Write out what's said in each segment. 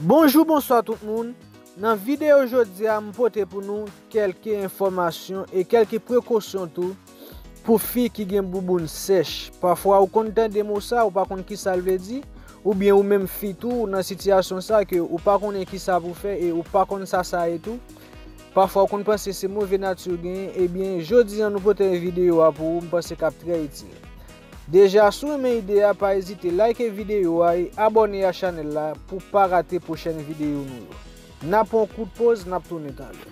Bonjou bonswa tout moun, nan videyo jodia m pote pou nou kelke enfomasyon e kelke prekosyon tou pou fi ki gen bouboun sèch, pafwa ou konn tande mo sa ou pa konn kisal vle di, ou byen ou menm fi tou ou nan sitiyasyon sa ke ou pa konnen kisa pou fè e ou pa konn sa sa ye tou, pafwa ou konn panse se move nati ou genyen ebyen jodia nou pote videyo a pou ou m panse kap trè itil. Deja si w renmen ide a pa ezite like video a e abone a chanel la pou w pa rate pwochèn video nou yo. Na pran yon kout poz nap tounen talè.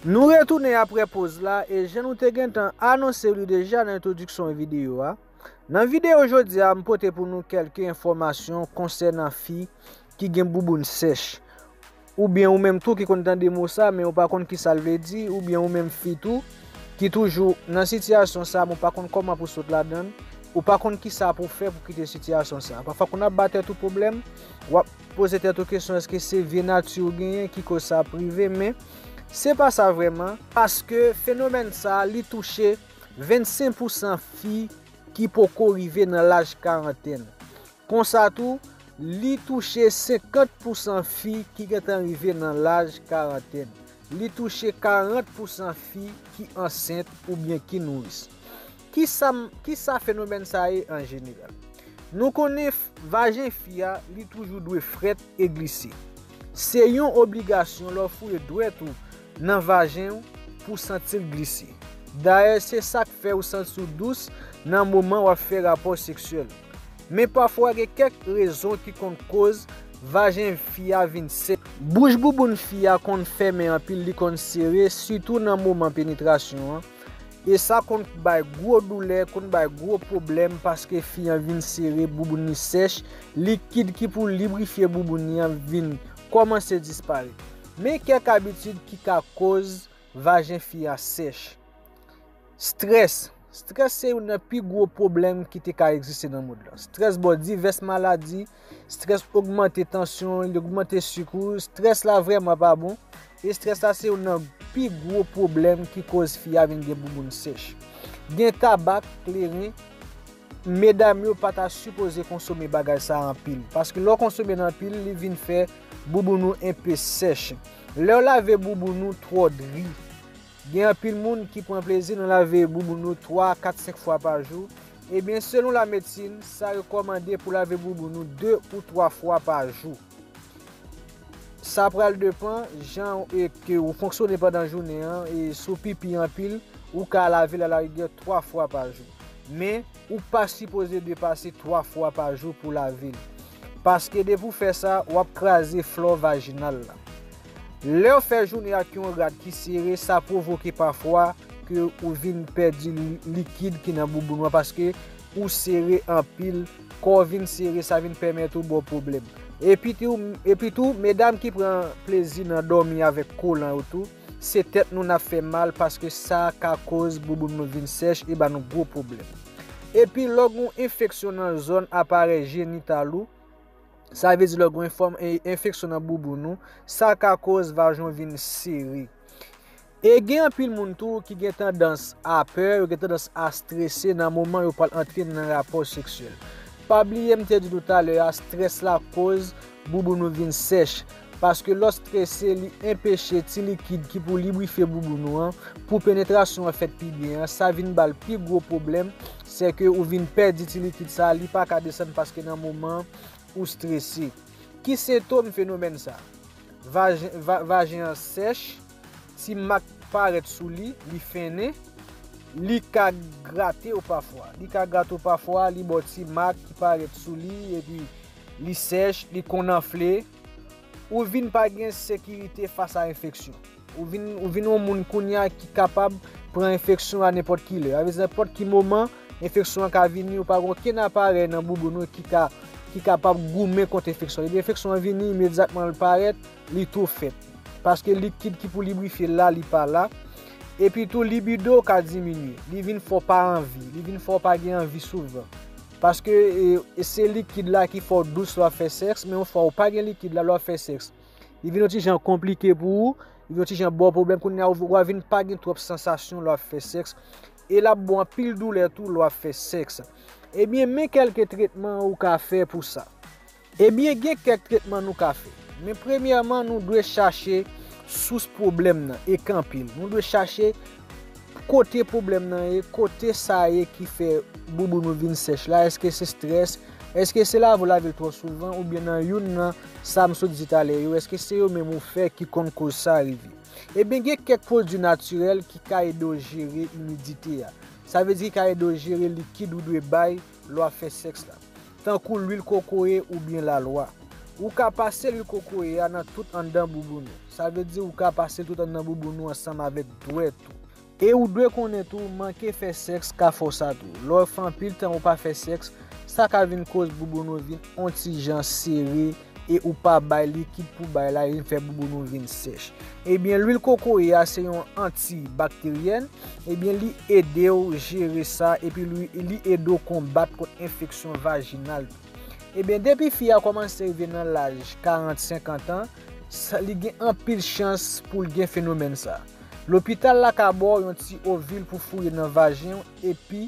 Nou retounen apre poz la e jan nou te gentan anonse li deja nan entwodiksyon video a, Nan video jodi a m pote pou nou kelke enfomasyon konsenan fi ki gen bouboun sech. Ou byen ou menm tou ki konn tande mo sa men ou pa konn ki sal vle di ou byen ou menm fi tou ki toujou nan sitiyasyon sa men ou pa konn koman pou sot ladann ou pa konn ki sa pou fe pou kite sitiyasyon sa. Pa fwa konn ap ba tet ou pwoblem wap poze tet ou kesyon eske se vye nati ou genyen ki koz sa ap rive men se pa sa vreman paske fenomen sa li touche 25 pousan fi ki poko rive nan laj karantèn. Konsa tou, li touche 50 pousan fi ki gentan rive nan laj karantèn. Li touche 40 pousan fi ki ansent oubyen ki nouris. Kisa fenomèn sa ye an jeneral? Nou konnen Vajen fi a li toujou dwe frèt e glise. Se yon obligasyon lè w foure dwèt ou nan vajen w pou w santi l glise. Dayè se sa k fè ou santi w dous nan moman w ap fè rapò seksyèl. Men pafwa gen kèk rezon ki konn koz vajen fi a vin sèk. Bouch bouboun fi a konn fèmen anpil li konn sere sitou nan moman penetrasyon an. E sa konn k bay gwo doulè, konn bay gwo pwoblèm paske fi an vin sere, bouboun li sèch, likid ki pou librifye bouboun li an vin kòmanse disparèt. Men kèk abitid ki ka koz vajen fi an sèch. Strès, strès se youn nan pi gwo pwoblèm ki te ka egziste nan mond lan. Strès ba w divès maladi, Strès ogmante tansyon, li ogmante sik ou. Strès la vrèman pa bon. E strès la se youn nan pi gwo pwoblèm ki koz fi a vin gen bouboun sèch. Gen tabak, kleren, medam yo pa ta sipoze konsome bagay sa anpil. Paske lè w konsome l anpil, li vin fè bouboun ou enpe sèch. Lè w lave bouboun ou twò dri. Gen anpil moun ki pran plezi nan lave bouboun nou 3, 4, 5 fwa pa jou. Ebyen selon la medsin, sa rekòmande pou lave bouboun nou 2 ou 3 fwa pa jou. Sa pral depan jan ke ou fonksyone pandan jounen an e si w pipi anpil, ou ka lave l alarigè 3 fwa pa jou. Men, Ou pa sipoze depase 3 fwa pa jou pou lave l. Paske depi w fè sa, w ap kraze flò vajinal la. Lè w fè jounen ak yon rad ki sere, sa pwovoke pafwa ke ou vin pèdi likid ki nan bouboun an paske ou sere anpil, kò w vin sere sa vin pèmèt ou ba w pwoblèm. Epitou, medam ki pran plezi nan dòmi avèk kolan yo tou, Se tèt nou n ap fè mal paske sa ka koz bouboun nou vin sèch e ba nou gwo pwoblèm. E pi lò gen yon enfeksyon nan zòn aparèy jenital ou, sa vle di lò gen yon enfeksyon nan bouboun ou, sa ka koz vajen w vin sere. E gen anpil moun tou ki gen tandans a pè, yo gen tandans a strese nan moman yo pral antre nan rapò seksyèl. Pa bliye m te di nou talè a, strès la koz bouboun nou vin sèch. Paske lò strese li enpeche ti likid ki pou librifye bouboun ou an pou penetrasyon an fèt pi byen an, sa vin bal pi gwo pwoblèm, sè ke ou vin pèdi ti likid sa li pa ka desann paske nan moman an ou strese. Ki sentom fenomèn sa? Vajen vajen an sèch, ti mak parèt sou li, li fennen, li ka grate ou pafwa, li ka grate ou pafwa, li ba w ti mak ki parèt sou li epi. li sèch, li konn anfle, ou vin pa gen sekirite fas a enfeksyon. Ou vin, ou vin yon moun kounye a ki kapab pran enfeksyon a nenpòt ki lè. Avèz nenpòt ki moman, enfeksyon an ka vini, ou pa gen okenn aparèy nan bouboun ou ki ka, ki kapab goumen kont enfeksyon. Depi enfeksyon an vini, imedyatman l parèt, li tou fèt. Paske likid ki pou librifye l la, li pa la. Epi tou, libido w ka diminye. Li vin fè w pa anvi. Li vin fè w pa gen anvi souvan. Paske se likid la ki fè w dous lè w ap fè sèks, men yon fwa ou pa gen likid la lè w ap fè sèks, li vin yon ti jan konplike pou ou, li vin yon ti jan ba w pwoblèm, kounye a ou a vin pa gen twòp sansasyon lè w ap fè sèks, e l ap ba w anpil doulè tou lè w ap fè sèks. Ebyen men kèlke tretman ou ka fè pou sa. Ebyen gen kèk tretman nou ka fè. Men premyèman nou dwe chache sous pwoblèm nan e kanpe l. Nou dwe chache kote pwoblèm nan ye, kote sa ye ki fè bouboun ou vin sèch la, eske se strès, eske se lave ou lave l twò souvan oubyen nan youn nan sa m sot di talè yo eske se yo menm ou fè ki konn koz sa rive. Ebyen gen kèk pwodui natirèl ki ka ede w jere imidite a. Sa vle di ki ka ede w jere likid ou dwe bay lè w ap fè sèks la, tankou lwil kokoye oubyen lalwa. Ou ka pase lwil kokoye a nan tout anndan bouboun ou. Sa vle di ou ka pase l tout anndan bouboun ou ansanm avèk dwèt ou. E ou dwe konnen tou, manke fè sèks ka fè w sa tou. Lè w fè anpil tan ou pa fè sèks, sa ka vin koz bouboun ou vin on ti jan sere, e ou pa bay likid pou bay la e fè bouboun ou vin sèch. Ebyen lwil kokoye a se yon anti bakteryèn, ebyen li edew jere sa epi li edew konbat kont enfeksyon vajinal tou. Ebyen depi fi a kòmanse rive nan laj 40, 50 an, li gen anpil chans poul gen fenomèn sa. Lopital la ka baw yon ti ovil pou fouye nan vajenw epi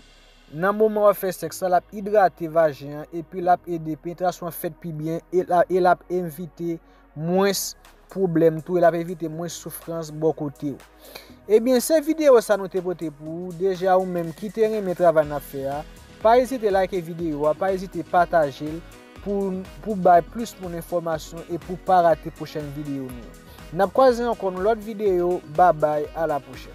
Nan moman wap fè sèks la, lap idrate vajen an epi lap ede penetrasyon an fèt pi byen e lap evite mwens pwoblèm tou e lap evite mwens soufrans bò kotew. Ebyen se videyo sa nou te pote pou ou, deja ou menm ki te renmen travay nap fè a, pa ezite like videyo a, pa ezite patajel pou bay plis moun enfòmasyon e pou pa rate pwochèn videyo nou yo. Nap kwaze ankò nan lòt videyo, babay a la pwochèn.